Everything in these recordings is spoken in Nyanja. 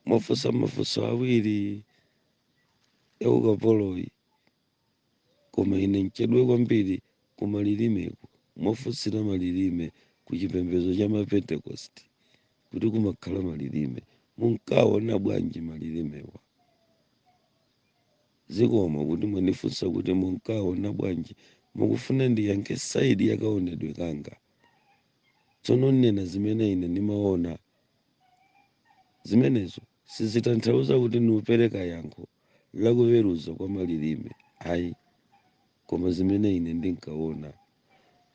mwafunsa mafunso awiri ya ukapoloyi koma ine mchedwe kwambiri ku malilimeku mwafunsira malilime ku chipembedzo cha mapentekosti kuti kumakhala malilime munkaona bwanji malilimewa zikomo kuti mwandifunsa kuti munkaona bwanji mukufuna ndiyankhe saidi yakaonedwe kanga tsono nnena zimene ine ndimaona Zimenezo sizitanthauza kuti ndikupereka yankho la kuweruza kwa malirime ayi, koma zimene ine ndinkawona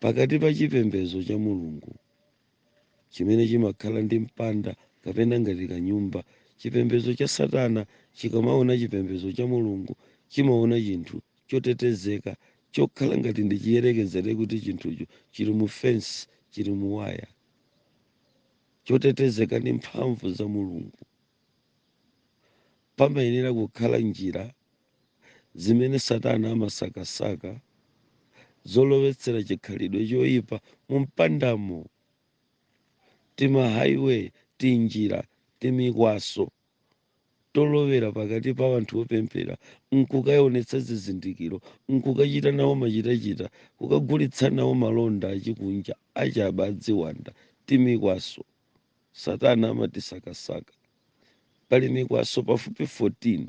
pakati pa chipembedzo cha Mulungu, chimene chimakhala ndi mpanda, kapena ngati kanyumba, chipembedzo cha Satana chikamawona chipembedzo cha Mulungu, chimawona chinthu chotetezeka, chokhala ngati ndi chiyerekezere kuti chinthucho chiri mu fensi, chiri mu waya. chotetezeka ndi mphamvu za Mulungu. Pamayenera kukhala njira zimene Satana amasakasaka zolowetsera chikhalidwe choipa mu mpandamo, timahighway, tinjira, timikwaso. tolowera pakati pa anthu opemphera nkukaonetsa zizindikiro nkukachita nawo machitachita kukagulitsa nawo malonda achikunja achabe adziwanda timikwaso satana amatisakasaka pali mikwaso pafupi 14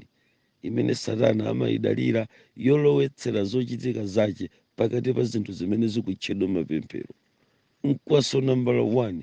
imene satana amayidalira yolowetsera zochitika zache pakati pa zinthu zimene zikutchedwa mapemphero mkwaso nambala 1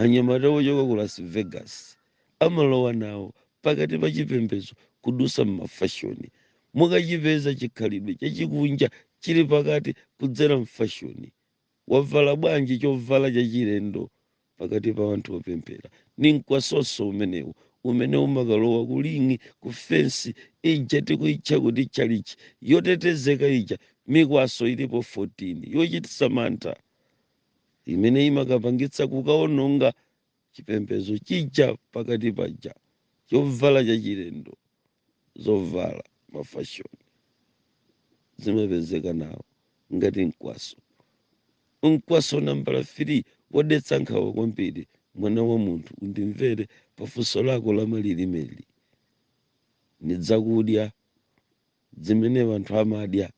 Anyamata ochoka ku Las Vegas amalowa nawo pakati pa chipembedzo kudutsa m'mafashoni. Mukachipeza chikhalidwe chachikunja chili pakati kudzera m'fashoni. Wavala bwanji chovala chachilendo pakati pa anthu opemphera? Ni mkwasoso umenewu umene umakalowa ku linga, ku fensi, ija tikuitcha kuti tchalitchi, yotetezeka ija, mikwaso ilipo 14 yochititsa mantha. imene imakapangitsa kukaononga chipembedzo chija pakati paja chovala chachilendo zovala mafashoni zimapezeka nawo ngati mkwaso mkwaso nambala 3 wodetsa nkhawa kwambiri mwana wa munthu undimvere pafunso lako la malilimeli ni dzakudya dzimene wanthu amadya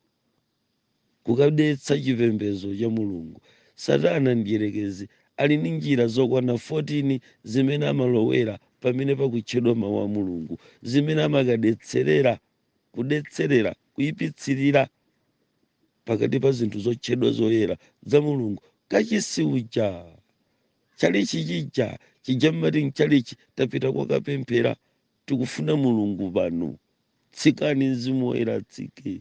kukadetsa chipembedzo cha Mulungu. Satana Mdyerekezi ali ndi njira zokwana 14 zimene amalowera pamene pakutchedwa Mawu a Mulungu, zimene amakadetserera, kudetserera, kuipitsirira pakati pa zinthu zotchedwa zoyera za Mulungu, kachisi uja, tchalitchi chija, chija mmati mtchalitchi, tapita kokapemphera, tikufuna Mulungu pano, tsikani Mzimu Woyera atsike.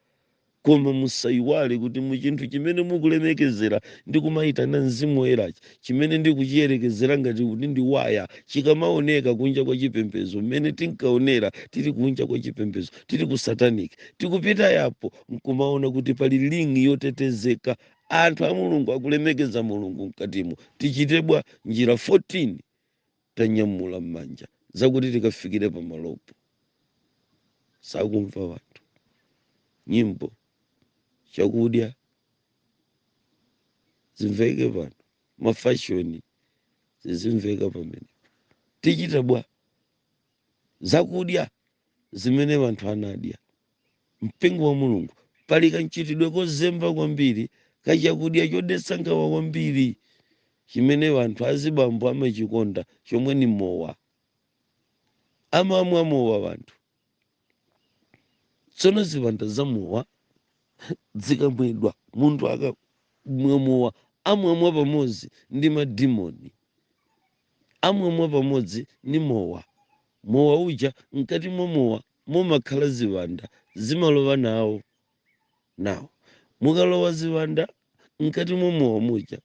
koma musaiwale kuti mu chinthu chimene mukulemekezera ndi kumayitana mzimu woyerachi chimene ndikuchiyerekezera ngati kuti ndi waya chikamaoneka kunja kwa chipembedzo mmene tinkaonera tili kunja kwa chipembedzo tili ku sataniki tikupita yapo nkumaona kuti pali ling'i yotetezeka anthu a mulungu akulemekeza mulungu mkatimo tichite bwa njira 14 tanyamula m'manja zakuti tikafikire pamalopo sakumva wanthu nyimbo chakudya zimveke pano mafashoni zizimveka pamene tichita bwa zakudya zimene wanthu anadya Mpingo wa Mulungu, pali kanchitidwe kozemba kwambiri ka chakudya chodetsa nkhawa kwambiri chimene wanthu azibambo amachikonda chomwe ni mowa. Amamwa mowa wanthu. Tsono ziwanda za mowa zikamwedwa, munthu akamwa mowa amwamwa pamodzi ndi madimoni, amwamwa pamodzi ni mowa. Mowa uja, mkati mwa mowa mumakhala ziwanda zimalowa nawo nawo mukalowa ziwanda mkati mwa mowa muja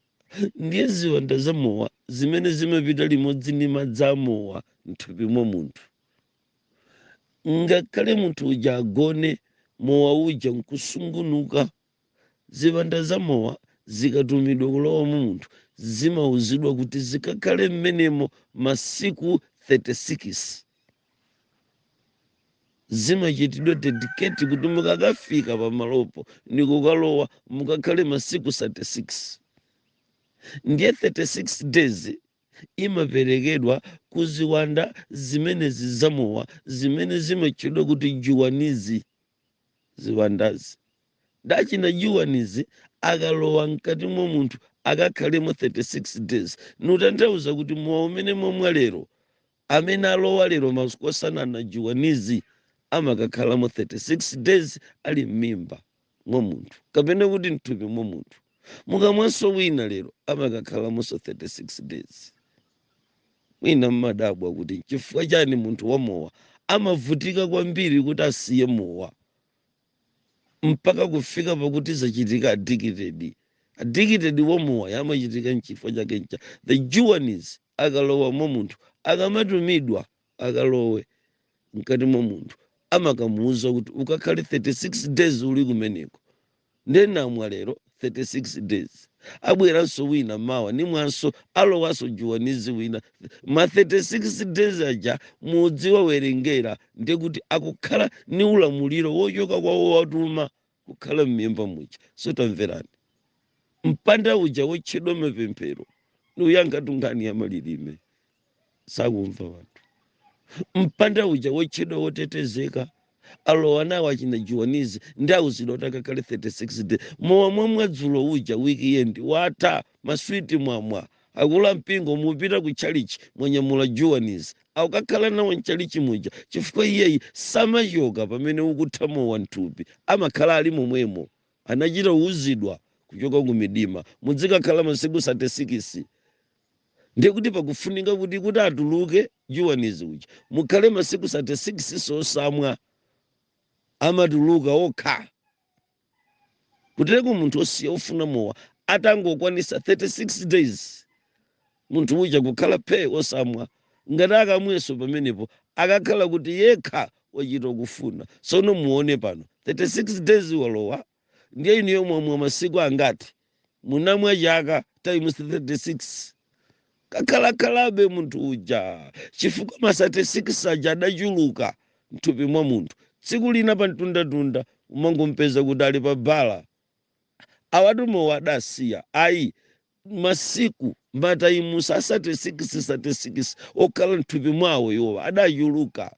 ndiye ziwanda za mowa zimene zimapita limodzi ndi madzi a mowa mthupi mwa munthu ngakhale munthu uja agone mowa uja nkusungunuka Ziwanda za mowa zikatumidwa kulowa mu munthu, zimauzidwa kuti zikakhale mmenemo masiku 36. Zimachitidwa dedicate kuti mukakafika pamalopo ni kukalowa, mukakhale masiku 36. Ndiye 36 days imaperekedwa ku ziwanda zimenezi za mowa zimene zimatchedwa kuti juwanizi. ziwandazi dachina juwanizi akalowa mkati mwa munthu akakhalemo 36 days nkutanthauza kuti mowa umene mwamwa lero amene alowa lero masiku osanana juwanizi amakakhalamo 36 days ali m'mimba mwa munthu kapena kuti mthupi mwa munthu mukamwanso wina lero amakakhalamonso 36 days Mwina mmadabwa kuti n'chifukwa chani munthu wamowa amavutika kwambiri kuti asiye mowa mpaka kufika pakuti zachitika addicted. Addicted wa mowa yamachitika n'chifukwa chake ncha the juwanizi akalowa mwa munthu akamatumidwa akalowe mkati mwa munthu amakamuuza kuti ukakhale 36 days uli kumeneko nde ndamwa lero 36 days abweranso wina mawa nimwanso alowanso juwanizi wina ma 36 days aja mudziwerengera ndekuti akukhala ni ulamuliro wochoka kwa wowatuma kukhala m'mimba muja so tamverani mpanda uja wotchedwa mapemphero ni uyankhatu nkhani ya malilime sakumva wanthu mpanda uja wotchedwa wotetezeka alowa nawo achina juwanizi ndi auzidwa kuti akakhale 36 days mowa mwamwa dzulo uja weekend watha maswiti mwamwa. akulu ampingo mupita ku chalichi mwanyamula juwanizi akukakhala nawo mchalichi muja chifukwa iyeyi samachoka pamene ukutha mowa mthupi amakhala ali momwemo. anachita kuuzidwa kuchoka kumidima mudzikakhala masiku satesikisi ndiye kuti pakufunika kuti kuti atuluke juwanizi uja mukhale masiku satesikisinso osamwa. amatuluka okha. kutereko munthu osiya ofuna mowa atangokwanisa 36 days munthu uja kukhala phee osamwa ngati akamweso pamenepo akakhala kuti yekha wachita kufuna sono muone pano 36 days walowa ndiye inuyo mwamwa masiku angati munamwa chaka times 36 kakhalakhalabe munthu uja chifukwa ma 36 aja adachuluka mthupi mwa munthu tsiku lina pa mtundatunda umangompeza kuti ali pa bala awa ati mowa adasiya ayi masiku matayimusa a 36 36 okhala mthupi mwawo iwowa adachuluka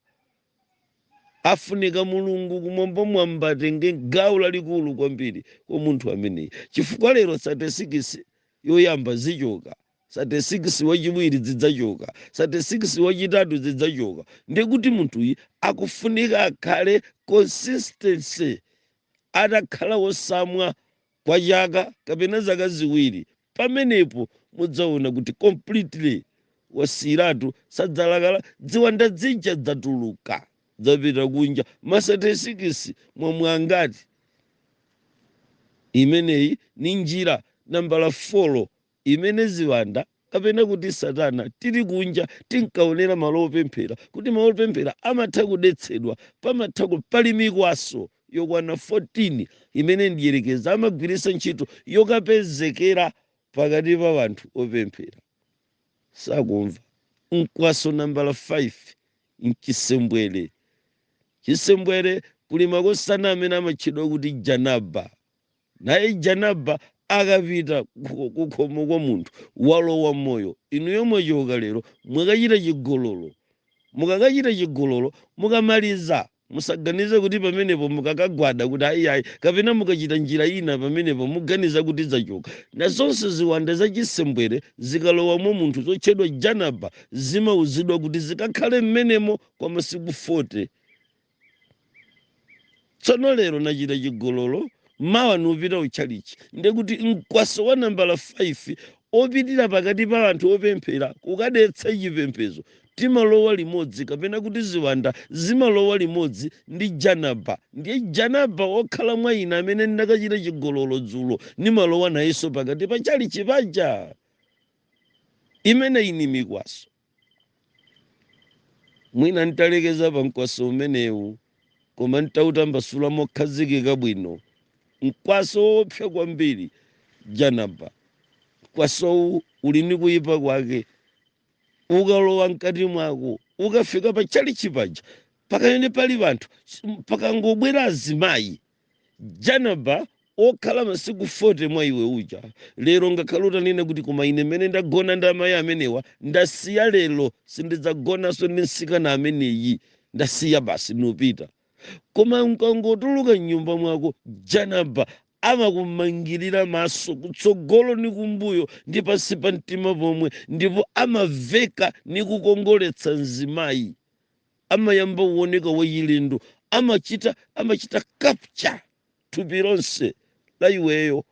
Afunika Mulungu Kumwambamwamba atenge gawo lalikulu kwambiri kwa munthu ameneyi chifukwa lero sate sikisi yoyamba zichoka, sate sikisi wachiwiri zidzachoka, sate sikisi wachitatu zidzachoka ndiye kuti munthuyi akufunika akhale consistency atakhala wosamwa kwa chaka kapena zaka ziwiri pamenepo mudzaona kuti completely wasiyiratu sadzalakala dziwanda zija dzatuluka dzapita kunja masatesikisi mwamwa angati imeneyi ni njira nambala folo imene ziwanda kapena kuti satana tili kunja tinkaonera malo opemphera kuti malo opemphera amatha kudetsedwa pamatha ku- pali mikwaso yokwana 14 imene mdyerekezi amagwiritsa ntchito yokapezekera pakati pa wanthu opemphera. Sakumva. Mkwaso nambala 5 mchisembwere. Chisembwere kuli makosana amene amatchedwa kuti Janaba. Naye Janaba akapita kukhomo kwa munthu walowa moyo, inuyo mwachoka lero mwakachita chigololo. Mukakachita chigololo, mukamaliza musaganize kuti pamenepo mukakagwada kuti ayi ayi kapena mukachita njira ina pamenepo muganiza kuti zachoka. Nazonso ziwanda za chisembwere zikalowa mwa munthu zotchedwa Janaba zimauzidwa kuti zikakhale m'menemo kwa masiku 40. tsono lero nachita chigololo mawa nupita kutchalichi ndiye kuti mkwaso wa nambala 5 opitira pakati pa anthu opemphera kukadetsa chipembedzo timalowa limodzi kapena kuti ziwanda zimalowa limodzi ndi janaba ndiye janaba okhala mwa ine amene ndinakachita chigololo dzulo nimalowa nayenso pakati pa chalichi paja imeneyi ni mikwaso mwina ntalekeza pa mkwaso umenewu koma ntautambasula mokhazikika bwino mkwaso woopsa kwambiri janaba mkwasowu uli ndi kuyipa kwake ukalowa mkati mwako ukafika pa tchalitchi paja pakaene pali anthu pakangobwera azimayi Janaba okhala masiku 40 mwa iwe uja lero ngakhale utanena kuti koma ine mmene ndagona ndi amayi amenewa ndasiya lero sindidzagonanso ndi msikana ameneyi ndasiya basi nupita koma nkangotuluka mnyumba mwako janaba amakumangirira maso kutsogolo ni kumbuyo ndi pansi pa mtima pomwe ndipo amaveka ni kukongoletsa mzimayi amayamba uoneka wachilendo amachita amachita capture thupi lonse la iweyo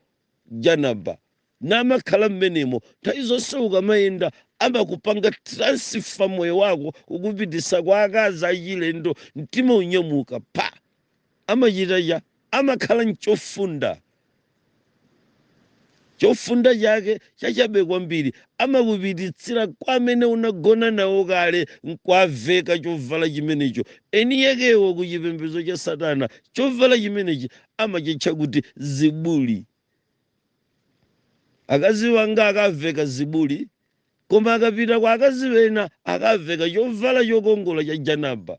janaba namakhala mmenemo nthawi zonse ukamayenda amakupanga transfer moyo wako kukupititsa kwa akazi achilendo mtima unyamuka pa amachita cha, amakhala nchofunda, chofunda chake chachabe kwambiri, amakupititsira kwa amene unagona nawo kale nkuwaveka chovala chimenecho. Eniakewo ku chipembedzo cha Satana, chovala chimenechi amachitcha kuti zibuli. Akazi wanga akaveka zibuli, koma akapita kwa akazi ena akaveka chovala chokongola cha janaba.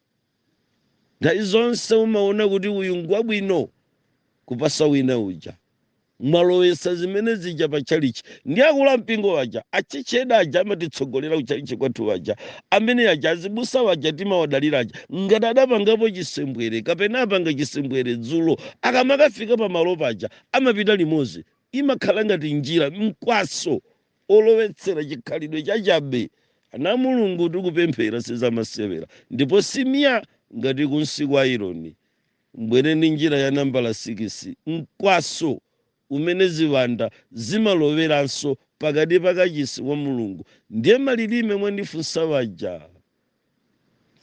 Nthawi zonse umaona kuti uyu ngwabwino kuposa wina uja. Mwalowesa zimene zija pa tchalichi. Ndi akulu ampingo aja, a church head aja amatitsogolera ku tchalichi kwathu aja. Amene aja azibusa aja timawadalira aja. Ngati adapangapo chisembwere kapena apanga chisembwere dzulo, akamakafika pa malo paja amapita limodzi. Imakhala ngati njira, mkwaso. olowetsera chikhalidwe chachabe ana a Mulungu kuti kupemphera sizamasewera ndipo si mya ngati kunsi kwa aironi mbwere ndi njira ya nambala sikisi mkwaso umene ziwanda zimaloweranso pakati pa kachisi wa Mulungu ndiye malilime mwandifunsa waja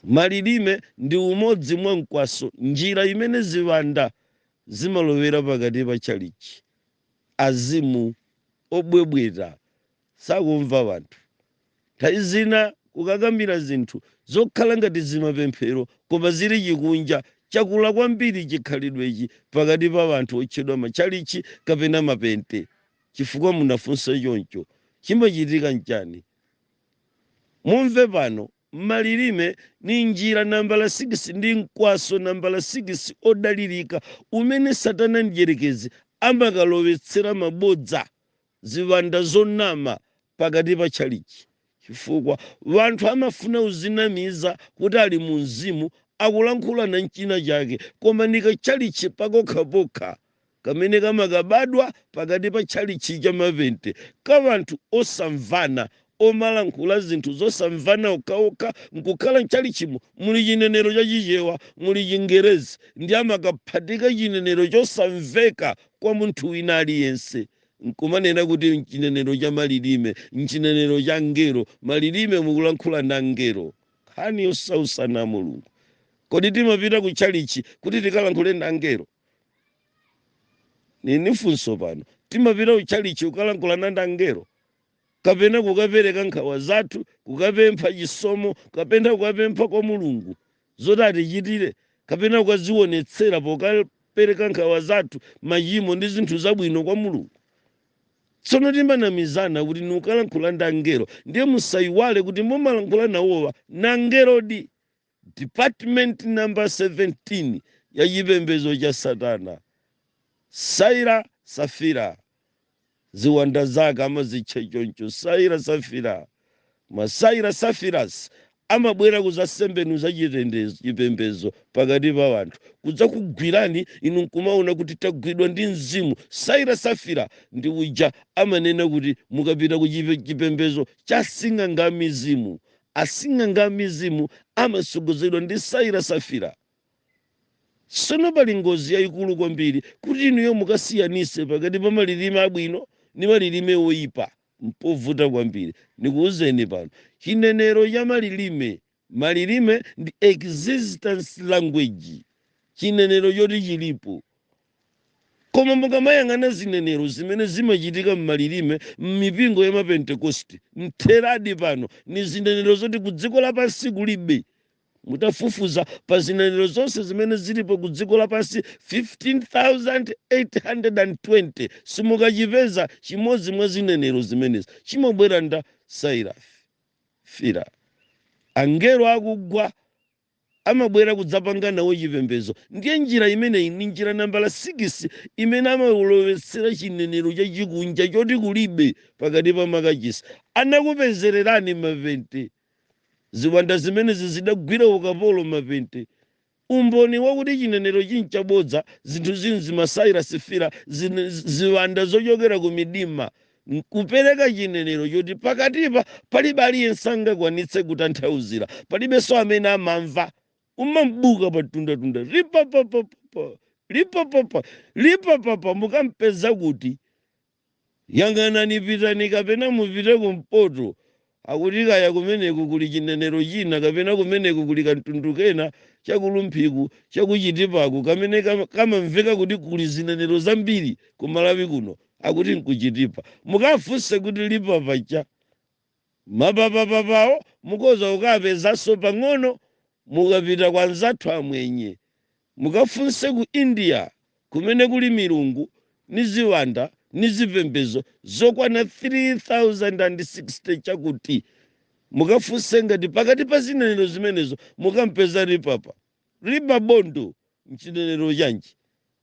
malilime ndi umodzi mwa mkwaso njira imene ziwanda zimalowera pakati pa chalichi azimu obwebweta sakumva wanthu nthawi zina kukakamira zinthu zokhala ngati zimapemphero koma zili chikunja chakula kwambiri chikhalidwechi pakati pa wanthu otchedwa matchalitchi kapena mapente chifukwa munafunsa choncho chimachitika nchani mumve pano Malilime, ni njira nambala sikisi ndi mkwaso nambala sikisi odalirika umene Satana Mdyerekezi amakalowetsera mabodza, ziwanda zonama, pakati pa chalichi. Chifukwa wanthu amafuna kuzinamiza kuti ali mu Mzimu, akulankhulana n'china chake, koma ni kachalichi pakokhapokha. kamene kamakabadwa pakati pa tchalitchi cha mapente ka wanthu osamvana omalankhula zinthu zosamvana okhaokha nkukhala mtchalitchimo muli chinenero cha Chichewa, muli Chingerezi ndi amakaphatika chinenero chosamveka kwa munthu wina aliyense nkumanena kuti mchinenero cha malilime, mchinenero cha angelo, malilime mukulankhula ndi angelo. Nkhani yosautsa ana a Mulungu. Kodi timapita ku tchalitchi kuti tikalankhule ndi angelo? Nili ni funso pano. Timapita ku tchalitchi kukalankhulana ndi angelo kapena kukapereka nkhawa zathu, kukapempha chisomo, kapena kukapempha kwa Mulungu zoti atichitire, kapena kukadzionetsera pokapereka nkhawa zathu, machimo ndi zinthu zabwino kwa Mulungu. Tsono timanamizana kuti tikukalankhula ndi angelo, ndiye musaiwale kuti omwe mumalankhula nawowa ni angelodi. Department number 17 ya chipembedzo cha Satana. Saira Safira. Ziwanda zake amazitcha choncho Saira Safira. Ma Saira Safiras amabwera kuzasembenuza chipembedzo pakati pa wanthu kudzakugwirani inu nkumaona kuti tagwidwa ndi mzimu saira safira ndi uja amanena kuti mukapita ku chipembedzo cha sing'anga mizimu Asing'anga a mizimu amasogozedwa ndi Saira Safira. Sono pali ngozi yaikulu kwambiri kuti inuyo mukasiyanitse pakati pa malilime abwino ndi malilime oipa. Mpovuta kwambiri. Ndikuuzeni pano. Chinenero cha malilime. Malilime ndi existence language. Chinenero choti chilipo. Koma mukamayang'ana zinenero zimene zimachitika m'malilime m'mipingo ya ma Pentekositi, mtheradi pano ni zinenero zoti ku dziko lapansi kulibe. Mutafufuza pa zinenero zonse zimene zilipo ku dziko lapansi 15,820 simukachipeza chimodzi mwa zinenero zimenezi. Chimabwera nda Saira Safira, angelo akugwa. amabwera kudzapanga nawo chipembedzo. Ndiye njira imeneyi ndi njira nambala sikisi imene amalowetsera chinenero chachikunja choti kulibe pakati pa makachisi. Anakupezererani mapente. Ziwanda zimenezi zidagwira ukapolo mapente. Umboni wakuti chinenerochi n'chabodza, zinthuzi n'zimasaira safira, zin- ziwanda zochokera ku midima n'kupereka chinenero choti pakatipa palibe aliyense angakwanitse kutanthauzira, palibenso amene amamva, umam'buka pa tunda-tunda, ripapapapapa, ripapapa, ripapapa, mukam'peza kuti? Yang'anani, pitani kapena mupite kumpoto, Akuti kaya kumeneko kuli chinenero china kapena kumeneko kuli kamtundu kena cha ku Rumphiku, cha ku Chitipaku kamene kamamveka kuti kuli zinenero zambiri ku Malawi kuno, akuti n'ku Chitipa. Mukafunse kuti Lipapa cha? Mapapapapa'wo mukhoza kukapezanso pang'ono Mukapita kwa anzathu Amwenye, mukafunse ku India kumene kuli milungu ni ziwanda ni zipembedzo zokwana 3,060 chakuti. Mukafunse ngati pakati pa zinenero zimenezo mukam'peza ripapa riba bondo n'chinenero chanji.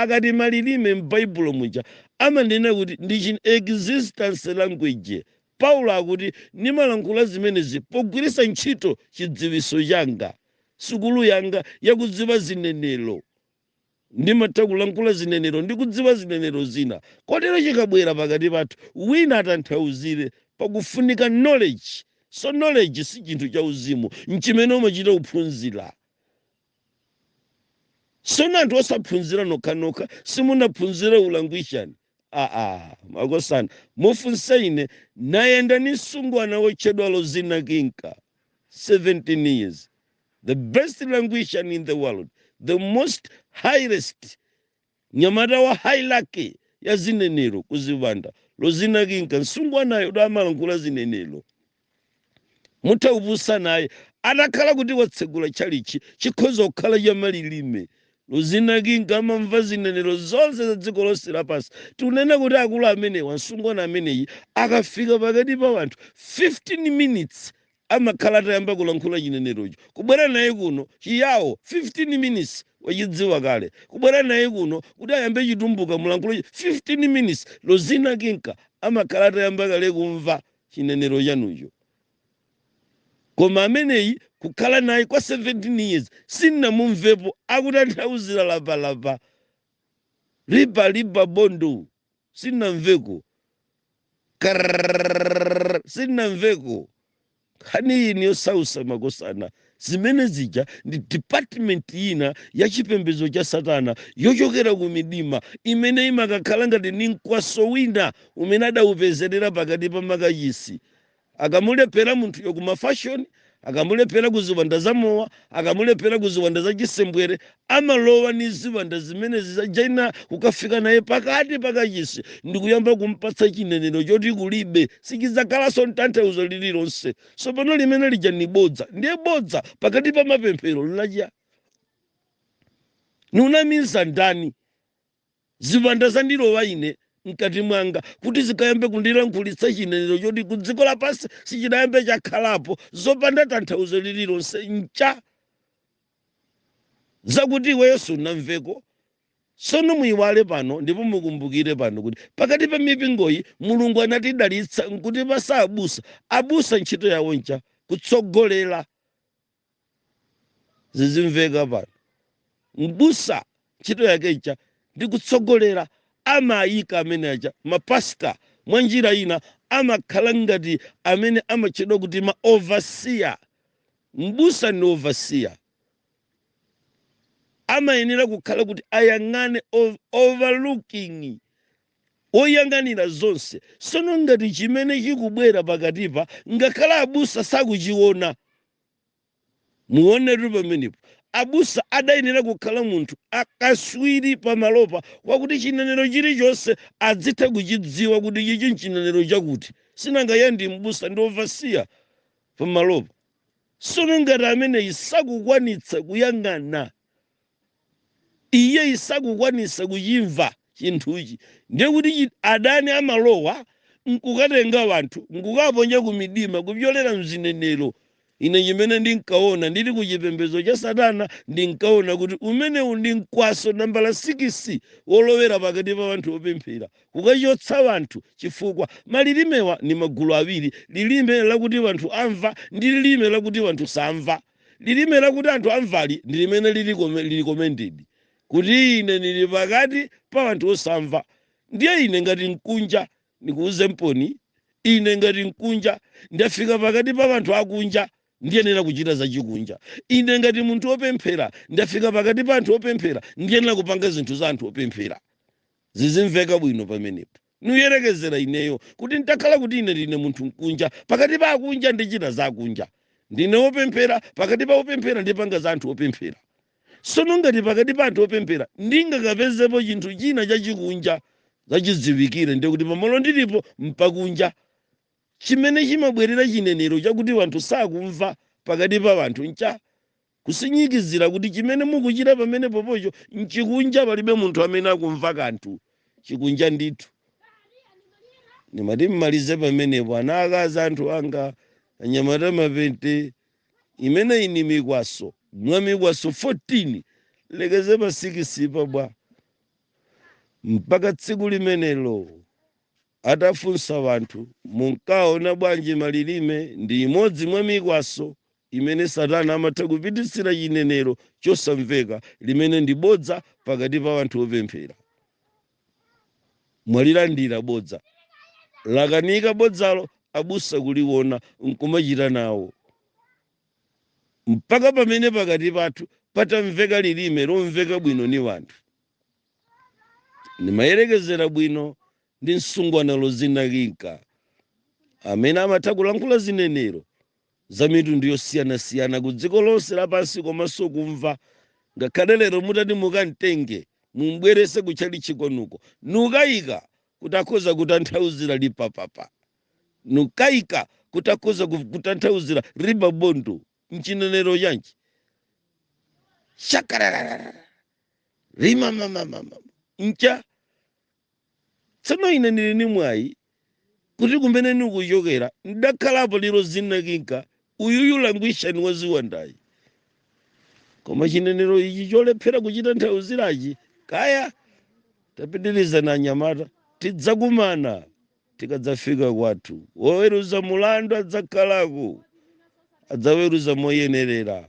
Akati malilime m'Baibulo muja amanena kuti ndi chi existence language. Paulo akuti ndimalankhula zimenezi pogwiritsa ntchito chidziwiso changa, sukulu yanga yakudziwa zinenero. Ndimatha kulankhula zinenero ndi kudziwa zinenero zina. Kotero chikabwera pakati pathu wina atanthauzire, pakufunika knowledge. So knowledge si chinthu chauzimu, nchimene umachita kuphunzira. sono anthu osaphunzira nokhanokha simunaphunzire ulangwishani aa makosana mufunse ine nayenda ni msungwana wotchedwa lozina kinka 17 years the best languishan in the world the most highest Mnyamata wa hierarchy ya zinenero ku ziwanda Lozina Kinka msungwanayo uja amalankhula zinenero. Mutha kupusa naye atakhala kuti watsegula tchalitchi chikhoza kukhala cha malilime Lozina Kinka amamva zinenero zonse za dziko lonse lapansi. Tikunena kuti akulu amenewa msungwana ameneyi akafika pakati pa wanthu 15 minutes amakhala atayamba kulankhula chinenerocho, kubwera naye kuno, chi Yao, 15 minutes wachidziwa kale, kubwera naye kuno kuti ayambe chitumbuka mulankhulachi 15 minutes Lozina Kinka amakhala atayamba kale kumva chinenero chanucho. Koma ameneyi kukhala naye kwa 17 years sindinamumvepo akutanthauzira lapalapa. Ripa Liba Bondo. sindinamveko Karrrrrrrrr, sindinamveko nkhani yi ni yosausa makosana zimene zija ndi department ina ya chipembedzo cha satana yochokera ku midima imene imakakhala ngati ni mkwaso wina umene adawupezerera pakati pa makachisi Akamulephera munthuyo ku mafashoni, akamulephera ku ziwanda za mowa, akamulephera ku ziwanda za chisembwere, amalowa ni ziwanda zimenezi za Jainá kukafika naye pakati pa kachisi ndikuyamba kumpatsa chinenero choti kulibe, sichidzakhalanso ntanthauzo lililonse. Tsopano limene lija ni bodza. Ndiye bodza pakati pa mapemphero nlachiyani? Nkunamiza ndani? Ziwanda zandilowa ine m'kati mwanga, kuti zikayambe kundilankhulitsa chinenero choti ku dziko lapansi sichidayambe chakhalapo, zopanda tanthauzo lililonse, ncha zakuti iweyo sunamveko. Tsono muiwale pano ndipo mukumbukire pano kuti pakati pa mipingoyi Mulungu anatidalitsa nkutipatsa abusa. Abusa ntchito yao ncha? Kutsogolera. zizimveka pano mbusa ntchito yake ncha ndi kutsogolera amayika amene aja mapasita mwa njira ina amakhala ngati amene amatchedwa kuti ma overseer mbusa ndi overseer amayenera kukhala kuti ayang'ane ov- overlooking Woyang'anira zonse. Tsono ngati chimene chikubwera pakatipa ngakhale abusa sakuchiona, muonetu pamenepo. Abusa adayenera kukhala munthu wa ukatswiri pamalopa kwakuti chinenero chilichonse adzitha kuchidziwa kuti ichichi nchinenero chakuti. Sinanga iye ndi mbusa ndi overseer pamalopa. Tsono ngati ameneyi sakukwanitsa kuyang'ana. iye sakukwanisa kuchimva chinthuchi ndiye kuti adani amalowa nkukatenga anthu nkukaponya kumidima kupyolera mzinenero ine chimene ndinkaona ndili ku chipembedzo cha satana ndinkaona kuti umenewu ndi mkwaso nambala sikisi wolowera pakati pa anthu opemphera kukachotsa anthu chifukwa malilimewa ni magulu awiri lilime lakuti anthu amva ndi lilime lakuti anthu samva Lilime lakuti anthu amvali ndi limene lili recommended, kuti ine nili pakati pa anthu osamva. Ndiye ine ngati mkunja, nikuuzemponi, ine ngati mkunja, ndafika pakati pa anthu akunja, ndiyenera kuchita zachikunja. Ine ngati munthu wopemphera, ndafika pakati pa anthu opemphera, ndiyenera kupanga zinthu za anthu opemphera. Zizimveka bwino pamenepo. Nuyerekezera ineyo, kuti ntakhala kuti ine ndine munthu mkunja, pakati pa akunja ndichita za akunja, ndine wopemphera, pakati pa opemphera ndipanga za anthu opemphera, sono ngati pakati pa anthu opemphera ndingakapezepo chinthu china chachikunja, zachidziwikire ndiye kuti pamalo ndilipo mpakunja. Chimene chimabwerera chinenero chakuti wanthu sakumva pakati pa wanthu ncha Kusinyikizira kuti chimene mukuchita pamenepopocho nchikunja palibe munthu amene akumva kanthu. Chikunja ndithu. Nimati mmalize pamenepo ana aakazi anthu anga, anyamata mapente, imeneyi ni mikwaso mwa mikwaso 14, nlekeze pa sikisipa bwa? Mpaka tsiku limenelo. Atafunsa wanthu, Munkaona bwanji malilime? Ndi imodzi mwa mikwaso imene Satana amatha kupititsira chinenero chosamveka, limene ndi bodza pakati pa wanthu opemphera. Mwalilandira bodza. Lakanika bodzalo abusa kuliwona nkumachita nawo. Mpaka pamene pakati pathu patamveka lilime lomveka bwino ni wanthu. nimayerekezera bwino ndi msungwana Rozina Kinka amene amatha kulankhula zinenero za mitundu yosiyanasiyana ku dziko lonse lapansi komanso kumva ngakhale lero mutati mukamtenge mumbwerese ku tchalitchi kwanuko nukayika kuti akhoza kutanthauzira lipapapa nukayika kuti akhoza kutanthauzira ribabondo mchinenero chanji shakararara limamamamama ncha tsono ine ndili ni mwayi kuti kumene nikuchokera ndakhalapo ni Rozina Kinka uyuyu langwishani wa ziwandayi koma chinenero ichi cholephera kuchitanthauzirachi kaya tapitirizani anyamata tidzakumana tikadzafika kwathu woweruza mulandu adzakhalako adzaweruza moyenerera